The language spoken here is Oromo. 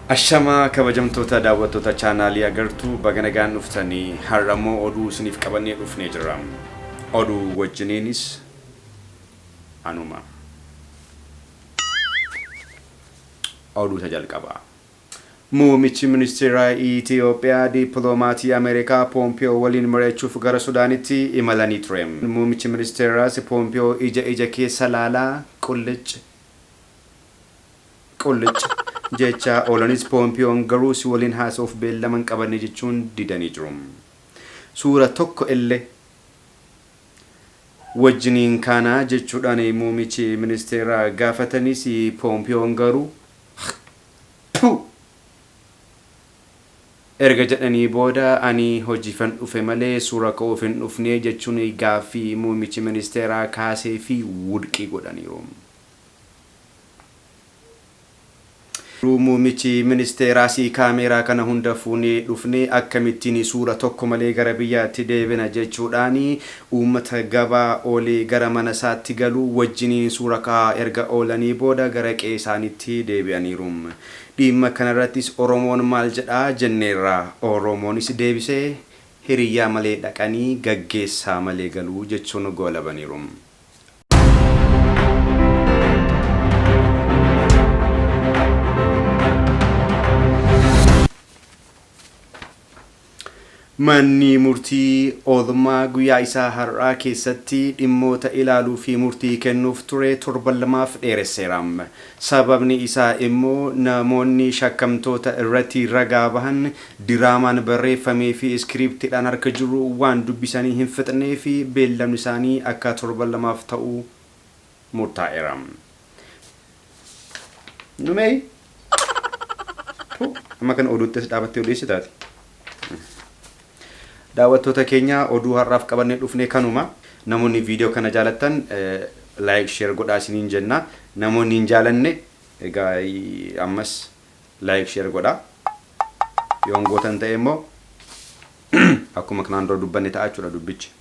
Ashamaa kabajamtoota daawwattoota chaanaalii agartuu baga nagaan dhuftanii har'a immoo oduu isiniif qabannee dhufnee jirra. Oduu wajjiniinis anuma. Oduu isa jalqabaa. Muummichi Ministeeraa Itiyoophiyaa Dippiloomaatii Ameerikaa Poompiyoo waliin mari'achuuf gara Sudaanitti imalanii ture. Muummichi Ministeeraas Poompiyoo ija ija keessa laalaa qullic qullic jechaa oolanis Poompiyoon garuu si waliin haasa'uuf beellama hin qabanne jechuun didanii jiru. Suura tokko illee wajjiniin kaanaa jechuudhaan muummichi ministeeraa gaafatanis Poompiyoon garuu. Pu! Erga jedhanii booda ani hojiifan dhufe malee suura ka'uuf hin dhufne jechuun gaaffii muummichi ministeeraa kaaseefi wudqi godhaniiru. Garuu muummichi ministeeraas kaameeraa kana hunda fuunee dhufne akkamittiin suura tokko malee gara biyyaatti deebina jechuudhaan Uummata gabaa oolee gara mana isaatti galu wajjiniin suura ka'aa erga oolanii booda gara qe'ee isaaniitti deebi'aniiru. Dhiimma kana irrattis Oromoon maal jedha jenneerra. Oromoonis deebisee, Hiriyyaa malee dhaqanii, gaggeessaa malee galu jechuun goolabaniiru. Manni murtii oolmaa guyyaa isaa har'aa keessatti dhimmoota ilaaluu fi murtii kennuuf ture torban lamaaf dheeresseera. Sababni isaa immoo namoonni shakkamtoota irratti ragaa bahan diraamaan barreeffamee fi iskiriiptiidhaan harka jiru waan dubbisanii hin fixneefi beellamni isaanii akka torban lamaaf ta'u murtaa'eera. Numei. Tu amma kana oduutti as dhaabattee odeessi taate. Daawwattoota keenya oduu har'aaf qabannee dhufne kanuma. Namoonni viidiyoo kana jaalattan laayik sheer godhaa isiniin jenna. Namoonni hin jaalanne egaa ammas laayik sheer godhaa. Yoon gootan ta'e immoo akkuma kanaan dura dubbanne ta'a jechuudha dubbichi.